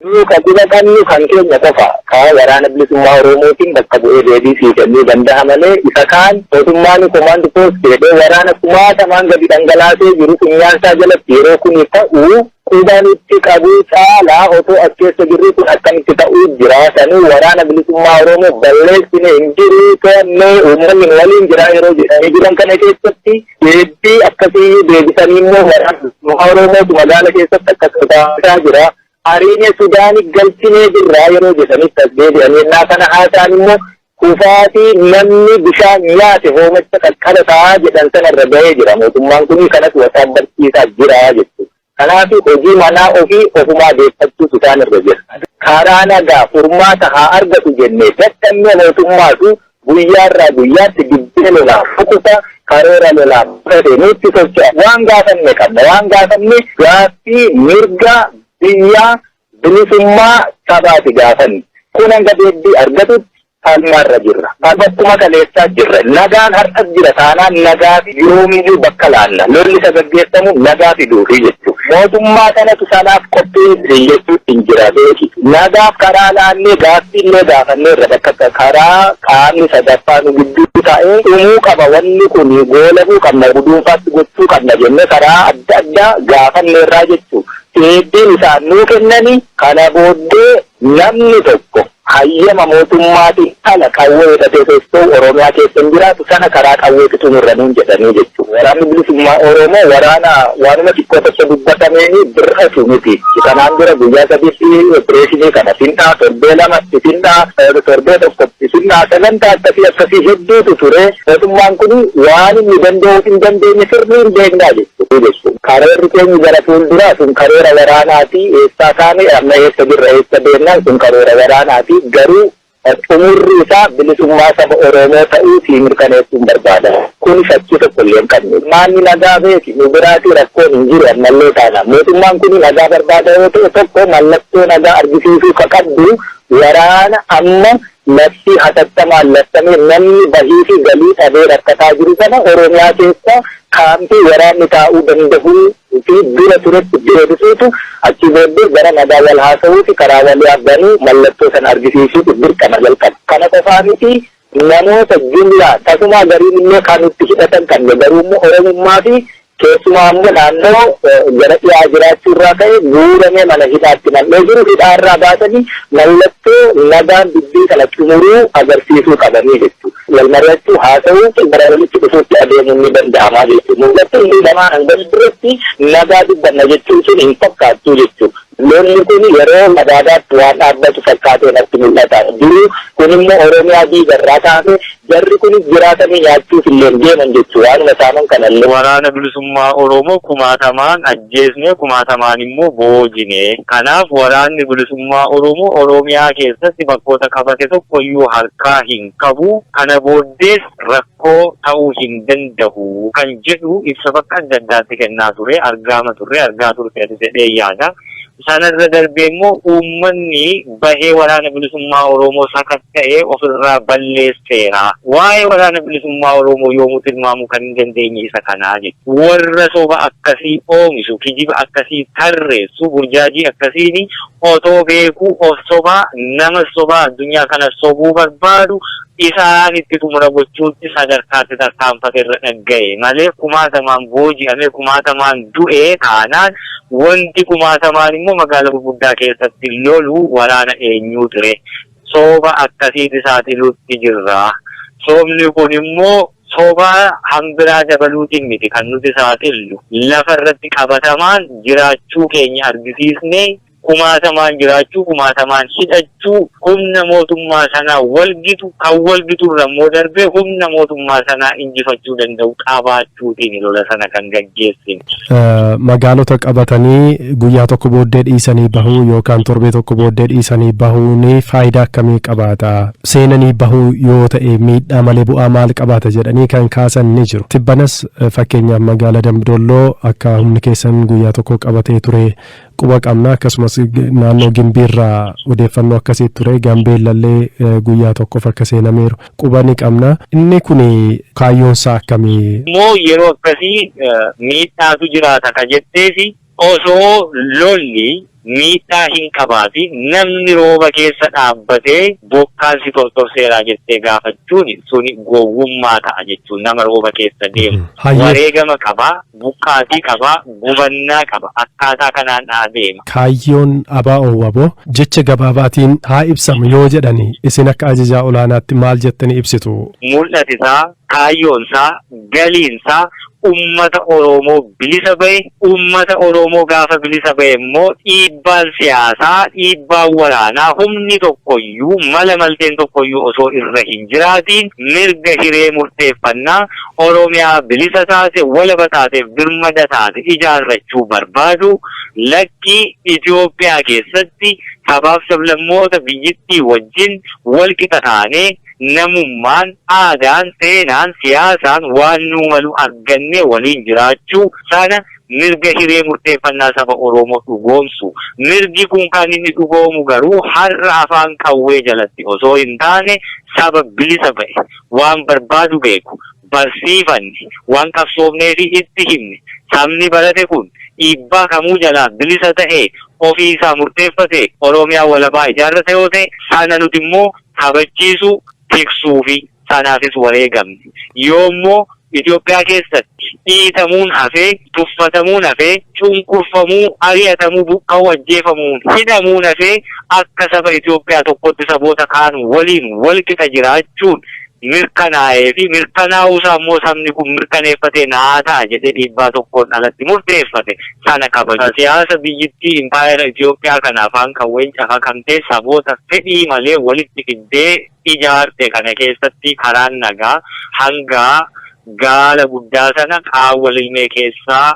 Nuu ka quba qabnu kan keenya qofa. Ka Waraana Bilisummaa Oromootiin bakka bu'ee deebii sii kennuu danda'a malee isa kaan mootummaan Command Post jedhee waraana kumaatamaan gadi dhangalaasee jiru funyaansaa jalatti yeroo kuni ta'u quba nutti qabuu caalaa otoo as keessa jirruu kun akkamitti ta'uu jira sanuu Waraana Bilisummaa Oromoo balleessine hin jiru to'annee uummanni nu waliin jira yeroo jedhanii jiran kana keessatti deebii akkasii deebisanii immoo Waraana Bilisummaa Oromootu magaala keessatti akkas godhaa jira. ariine Sudaani galchinee jirraa yeroo jedhanitti as deebi'anii ennaa kana haasa'an immoo kufaatii namni bishaan nyaate hoomacha qaqqaba ta'aa jedhan sana irra ga'ee jira. Mootummaan kun kanas wasaab barsiisaa jira jechuudha. Kanaaf hojii manaa ofii ofumaa deeffachuutu isaan irra jira. Karaa nagaa furmaata haa argatu jennee dadhabne mootummaatu Guyyaarraa guyyaatti dibbee lolaa fukuta, karoora lolaa butate nutti socho'a. Waan gaafanne qabna. Waan gaafanne gaaffii mirga biyyaa, bilisummaa sabaati gaafanni. Kun hanga deebbii argatutti falmaarra jirra. Bakkuma kaleessaa jirra. Nagaan har'as jira taanaan nagaaf yoomiyyuu bakka laanna. Lolli isa gaggeeffamu nagaa fiduufi jechuudha. Mootummaa kanatu sanaaf qopheesse jechuutti hin jira beeki. Nagaaf karaa laannee gaaffiillee gaafanneerra bakka akka karaa qaamni sadaffaa nu gidduu taa'ee dhumuu qaba wanni kun goolabuu qabna guduunfaatti gochuu qabna jennee karaa adda addaa gaafanneerraa jechuu deebbiin isaan nuu kennani kana booddee namni tokko Hayyama mootummaatiin ala qawwee hidhatee socho'u Oromiyaa keessa hin jiraatu, sana karaa qawweeti xumurra nuun jedhanii jechuudha. Waraanni Bilisummaa Oromoo waraana waanuma xiqqoo tokko dubbatameen bir'atu miti. Kanaan dura guyyaa sadiitti opireeshinii kana findhaa, torbee lamatti findhaa, torbee tokkotti findhaa, sagantaa akkasii akkasii hedduutu ture. Mootummaan kun waan inni danda'uu fi hin dandeenye sirrii hin beeknaa jechuudha. utuu jechuu. Karoorri keenyi gara fuulduraa sun karoora waraanaati, eessaa kaane, amma eessa jirra, eessa deemnaan sun karoora waraanaati, garuu xumurri isaa bilisummaa saba Oroomoo ta'uu sii mirkaneessuun barbaada. Kuni shakkii tokko illee hin qabnu. Ummaanni nagaa beeki, nu biraatii rakkoon hin jiru ammallee taanaan. Mootummaan kuni nagaa barbaada yoo ta'e tokko mallattoo nagaa argisiisuu ka qabdu waraana amma Labsii hatattamaan labsameen namni bahii fi galii dhabee rakkataa jiru kana Oromiyaa keessa kaampii waraanni taa'uu dandahuu fi dura turetti deebisuutu achii booddee gara nagaa wal haasawuu fi karaa waliaa banuu mallattoo sana argisiisuutu dirqama jalqaba. Kana qofaa miti namoota jumlaa tasumaa gariin illee kan itti hidhatan qabne garuu immoo Oromummaa fi Keessumaa ammoo naannoo gara dhiyaa jiraachuu irraa ka'e guuramee mana hidhaatti nam'ee jiru hidhaa irraa baasanii mallattoo nagaan dubbii kana xumuruu agarsiisuu qabanii jechuudha. Wal mari'achuu, haasa'uu fi gara walitti dhufuutti adeemuun ni danda'amaa jechuudha. Mul'atni inni lamaan hanga fuulduratti nagaa dubbanna jechuun sun hin fakkaattuu jechuudha. Lolli kun yeroo Madaadaatti waan dhaabbatu fakkaatee natti mul'ata. Duruu kun immoo Oromiyaa diiga irraa kaase jarri kunis jiraatanii nyaachuuf illee hin deeman jechu waanuma saaman kana illee. Waraana Bilisummaa Oromoo kumaatamaan ajjeesne, kumaatamaan immoo boojine. Kanaaf Waraanni Bilisummaa Oromoo Oromiyaa keessatti bakkoota qabate tokko iyyuu harkaa hin qabu. Kana booddees rakkoo. koo ta'uu hin danda'u kan jedhu ibsa bakka adda addaatti kennaa ture argaama turre argaa turteerta jedheen yaada. Sana irra darbee immoo uummanni bahee waraana bilisummaa Oroomoo sakatta'e of irraa balleesseera. Waa'ee waraana bilisummaa Oroomoo yoomuu tilmaamuu kan hin dandeenye isa kana jechuudha. Warra soba akkasii oomishu, kijiba akkasii tarreessu, burjaajii akkasiin otoo beekuu of sobaa, namas sobaa, addunyaa kanas sobuu barbaadu isaan itti xumura gochuutti sadarkaatti tarkaanfate irra dhaggaye malee kumaatamaan booji'amee kumaatamaan du'e taanaan wanti kumaatamaan immoo magaala gurguddaa keessatti lolu waraana eenyuu ture? Sooba akkasiiti saaxiluutti jirra. Soobni kun immoo soba hanbiraa dabaluutiin miti kan nuti saaxillu lafa irratti qabatamaan jiraachuu keenya argisiisnee, kumaatamaan jiraachuu, kumaatamaan hidhachuu, humna mootummaa sanaa wal gitu, kan wal gitu irra immoo darbee humna mootummaa sanaa injifachuu danda'u qabaachuutiini lola sana kan gaggeessine. Magaalota qabatanii guyyaa tokko booddee dhiisanii bahuu yookaan torbee tokko booddee dhiisanii bahuun faayidaa akkamii qabaata? Seenanii bahuu yoo ta'e miidhaa malee bu'aa maal qabaata jedhanii kan kaasan ni jiru. Tibbanas fakkeenyaaf magaalaa Dambidolloo akka humni keessan guyyaa tokko qabatee ture quba qabna akkasumas naannoo gimbiirraa odeeffannoo akkasii ture gambeellallee eh, guyyaa tokkoof akka seenameeru quba ni qabna inni kun kaayyoonsaa akkamii immoo yeroo akkasii eh, miidhaatu jiraata ka jetteefi osoo lolli miidhaa hin qabaati namni rooba keessa dhaabbatee bokkaan si tortorseeraa jettee gaafachuun suni gowwummaa ta'a jechuun nama rooba keessa deemu Hayyee. wareegama qabaa buqqaatii qaba, gubannaa qaba. Akkaataa kanaan adeema. Kaayyoon ABO wbo jecha gabaabaatiin haa ibsamu yoo jedhan isin akka ajajaa olaanaatti maal jettanii ibsitu? Mul'ati isaa, kaayyoon isaa, galiin isaa uummata Oromoo bilisa bahe, uummata Oromoo gaafa bilisa bahe immoo dhiibbaan siyaasaa, dhiibbaan waraanaa humni tokko iyyuu, mala malteen tokko iyyuu osoo irra hin jiraatiin mirga hiree murteeffannaa Oromiyaa bilisa taate, walaba taate, birmada taate ijaarrachuu barbaadu, lakki Itoophiyaa keessatti sabaaf sablammoota biyyittii wajjin walqixa taanee, namummaan, aadaan, seenaan, siyaasaan waan nuu malu argannee waliin jiraachuu sana mirga hiree murteeffannaa saba Oromoo dhugoomsu. Mirgi kun kan inni dhugoomu garuu har'a afaan qawwee jalatti osoo hin taane saba bilisa ba'e, waan barbaadu beeku, barsiifanne, waan qabsoofnee fi itti himne, sabni barate kun dhiibbaa kamuu jalaa bilisa ta'ee ofii isaa murteeffatee Oromiyaa walabaa ijaarrata yoo ta'e, sana nuti immoo kabachiisuu, tiksuu fi sanaafis wareegamne. Yoo immoo Itoophiyaa keessatti dhiitamuun hafee, tuffatamuun hafee, cunqurfamuu, ari'atamuu, buqqa'uu, ajjeefamuun, hidhamuun hafee akka saba Itoophiyaa tokkootti saboota kaan waliin walqixa jiraachuun mirkanaa'ee fi mirkanaa'uu isaa immoo sabni kun mirkaneeffatee naa ta'a jedhee dhiibbaa tokkoon alatti murteeffate sana kabaju. Siyaasa biyyittii impaayera Itoophiyaa kana afaan qawween cafaqamtee saboota fedhii malee walitti fiddee, ijaarte kana keessatti karaan nagaa hanga gaala guddaa sana qaawwa lilmee keessaa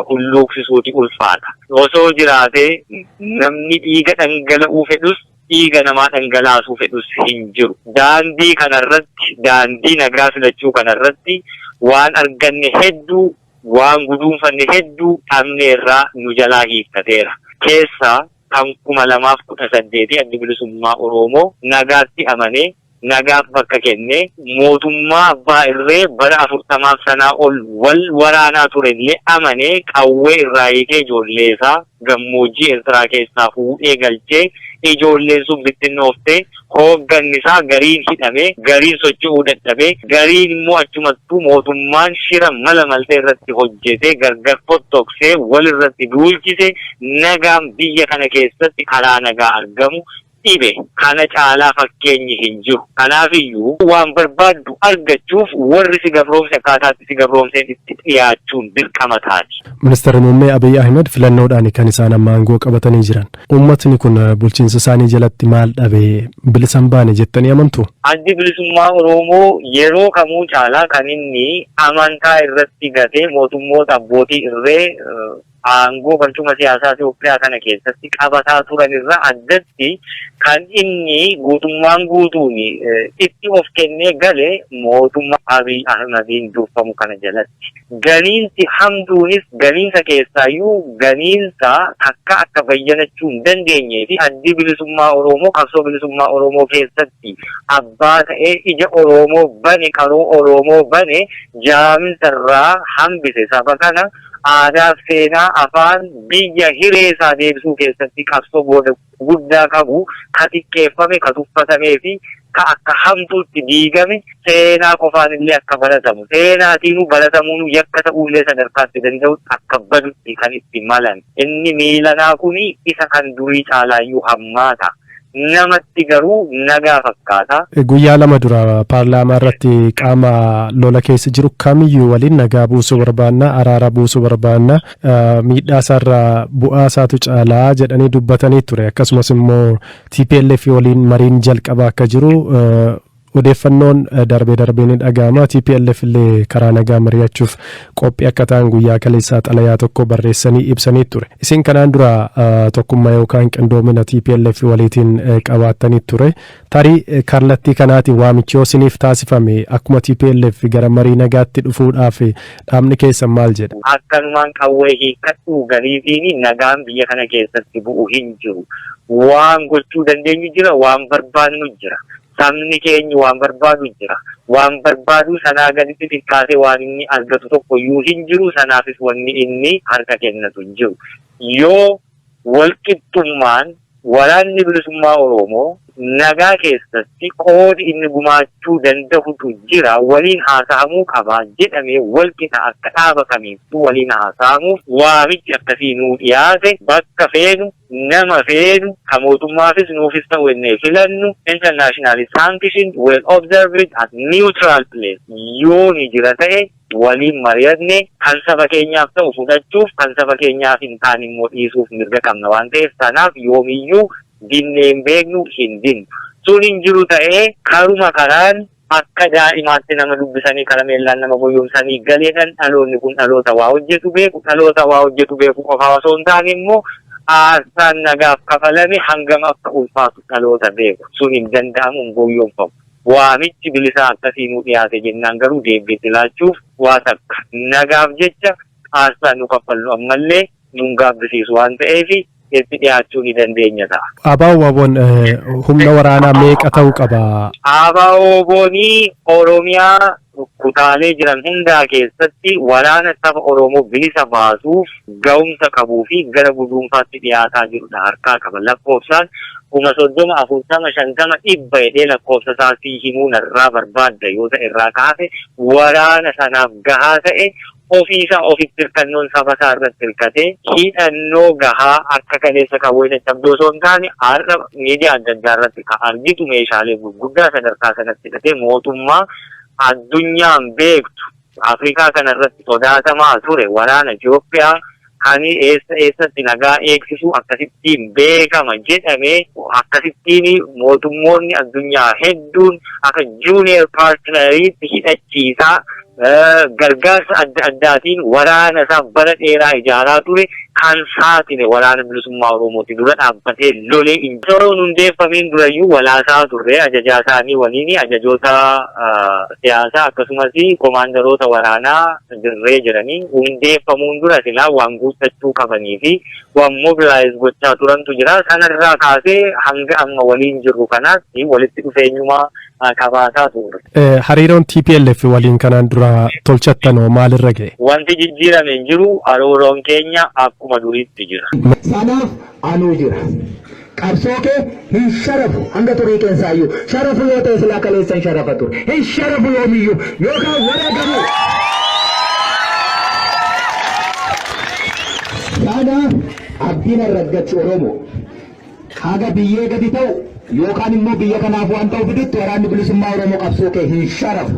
hulluuqsisuuti ulfaata. Osoo jiraatee namni dhiiga dhangala'uu fedhus dhiiga namaa dhangalaasuu fedhus hin jiru. Daandii kana irratti, daandii nagaa filachuu kana irratti waan arganne hedduu, waan guduunfanne hedduu dhabneerra, nu jalaa hiikkateera. Keessaa kan 2018 Addi Bilisummaa Oroomoo nagaatti amanee, nagaaf bakka kennee, mootummaa abbaa irree bara 40f sanaa ol wal waraanaa ture illee amanee qawwee irraa hiikee ijoollee isaa gammoojjii Ertiraa keessaa fuudhee galchee ijoolleen sun bittinnooftee Hoogganni isaa gariin hidhamee, gariin socho'uu dadhabee, gariin immoo achumattuu mootummaan shira mala maltee irratti hojjetee, gargar fottoqsee, wal irratti duulchise, nagaan biyya kana keessatti karaa nagaa argamu dhibe. Kana caalaa fakkeenyi hin jiru. Kanaaf iyyuu waan barbaaddu argachuuf warri si gabroomse akkaataa itti si gabroomseen itti dhiyaachuun dirqama taati. Ministarri Muummee Abiy Ahimad filannoodhaani kan isaan amma aangoo qabatanii jiran. Uummatni kun bulchiinsa isaanii jalatti maal dhabe bilisa hin baane jettanii amantu? Addi Bilisummaa Oromoo yeroo kamuu caalaa kan inni amantaa irratti gatee mootummoota abbootii irree aangoo barcuma siyaasaa Itoophiyaa kana keessatti qabataa turan irraa addatti kan inni guutummaan guutuun itti of kennee gale mootummaa Abiy Ahimadiin durfamu kana jalatti. Ganiinsi hamtuunis ganiinsa keessaayyuu ganiinsa takka akka bayyanachuu hin dandeenyee fi Addi Bilisummaa Oroomoo qabsoo bilisummaa Oroomoo keessatti abbaa ta'ee ija Oroomoo bane, qaroo Oroomoo bane, jaaminsa irraa hambise saba kana aadaa, seenaa, afaan, biyya, hiree isaa deebisuu keessatti qabsoo booda. guddaa qabu, ka xiqqeeffame, ka tuffatamee fi ka akka hamtuutti diigame, seenaa qofaanillee akka baratamu, seenaatiinuu baratamuunuu yakka ta'uullee sadarkaa itti danda'utti akka badutti kan itti malan. Inni miilanaa kun isa kan durii caalaayyuu hammaata. Namatti garuu nagaa fakkaata. Guyyaa lama dura paarlaamaa irratti qaama lola keessa jiru kamiyyuu waliin nagaa buusuu barbaanna, araara buusuu barbaanna, miidhaa isaarra bu'aa isaatu caalaa jedhanii dubbatanii ture akkasumas immoo TPLF waliin mariin jalqabaa akka jiru odeeffannoon darbee darbee ni dhaga'ama TPLF illee karaa nagaa mari'achuuf qophii akka ta'an guyyaa kaleessaa xalayaa tokko barreessanii ibsanii ture isin kanaan dura tokkummaa yookaan qindoomina TPLF waliitiin qabaattanii ture Tarii kallattii kanaatiin waamichi yoo isiniif taasifame akkuma tplf gara marii nagaatti dhufuudhaaf dhaabni keessan maal jedha? Akkanumaan qawwee hiikkadhuu galiifiin nagaan biyya kana keessatti bu'u hin jiru. Waan gochuu dandeenyu jira, waan barbaadnu jira. Sabni keenyi waan barbaadu jira. Waan barbaadu sanaa gaditti xiqqaatee waan inni argatu tokkoyyuu hin jiru. Sanaafis wanni inni harka kennatu hin jiru. Yoo. Walqixxummaan Waraanni Bilisummaa Oroomoo nagaa keessatti qoodi inni gumaachuu dandahutu jira, waliin haasahamuu qaba jedhamee walqixa akka dhaaba kamiittuu waliin haasahamuuf waamichi akkasii nuu dhiyaate bakka feenu, nama feenu, ka mootummaafis nuufis ta'u ennee filannu internationally sanctioned, well observed and neutral place yoo ni jira ta'e, waliin mari'atne kan saba keenyaaf ta'u fudhachuuf kan saba keenyaaf hin taane immoo dhiisuuf mirga qabna waan ta'eef sanaaf yoomiyyuu dinnee hin beeknu hin dinnu. Sun hin jiru ta'ee karuma karaan akka daa'imaatti nama dubbisanii karameellaan nama goyyomsanii galeedhan dhaloonni kun dhaloota waa hojjetu beeku dhaloota waa hojjetu beeku qofaa osoo hin taane immoo aarsaan nagaaf kafalame hangam akka ulfaatu dhaloota beeku. Sun hin danda'amu hin goyyomfamu. Waamichi bilisaa akkasii nuu dhiyaate jennaan garuu deebbii itti laachuuf waa takka nagaaf jecha aarsaa nu kaffallu ammallee nun gaabbisiisu waan ta'eef itti dhiyaachuu ni dandeenya ta'a. ABO-wbon humna waraanaa meeqa ta'uu qaba? ABO-wbon Oromiyaa rukkutaamee jiran hundaa keessatti waraana saba Oromoo bilisa baasuuf gahumsa qabuu fi gara guduunfaatti dhiyaataa jiru dha harkaa qaba. Lakkoofsaan kuma 30, 40, 50, 100 jedhee lakkoofsa isaa sii himuu narraa barbaadda yoo ta'e irraa ka hafe waraana sanaaf gahaa ta'e Ofii isaa ofitti hirkannoon saba isaa irratti hirkate hidhannoo gahaa akka kaleessa qawwee caccabduu osoo hin taane har'a miidiyaa adda addaa irratti kan argitu meeshaalee gurguddaa sadarkaa sanatti hidhatee mootummaa addunyaan beektu Afrikaa kana irratti sodaatamaa ture waraana Itoophiyaa Kani eessa eessatti nagaa eegsisu akkasittiin beekama jedhame akkasittiin mootummoonni addunyaa hedduun akka junior partneriitti hidhachiisaa gargaarsa adda addaatiin waraana isaa bara dheeraa ijaaraa ture kan saaxile waraana bilisummaa Oromooti dura dhaabbatee lolee injifannoo hundeeffameen durayyuu walaasaa turre ajajaa isaanii waliin ajajoota siyaasaa akkasumas komaandaroota waraanaa dirree jiranii hundeeffamuun dura silaa waan guuttachuu qabanii fi waan mobilaayiz gochaa turantu jira. Kanarraa kaasee hanga amma waliin jirru kanaatti walitti dhufeenyumaa qabaataa turre. Hariiroon TPLF waliin kanaan dura tolchattan hoo maalirra ga'e? Wanti jijjiirame hin jiru. Hariiroon keenya akkuma duriitti jira. Sanaaf anuu jira. Qabsoo kee hin sharafu hanga xurii keessaayyuu sharafu yoo ta'e silaa kaleessan sharafa ture hin sharafu yoomiyyuu yookaan wareegamu. Sana abdiin arraggachu Oromoo haga biyyee gadi ta'u yookaan immoo biyya kanaaf waan ta'u fidutti waraanni bilisummaa Oromoo qabsoo kee hin sharafu.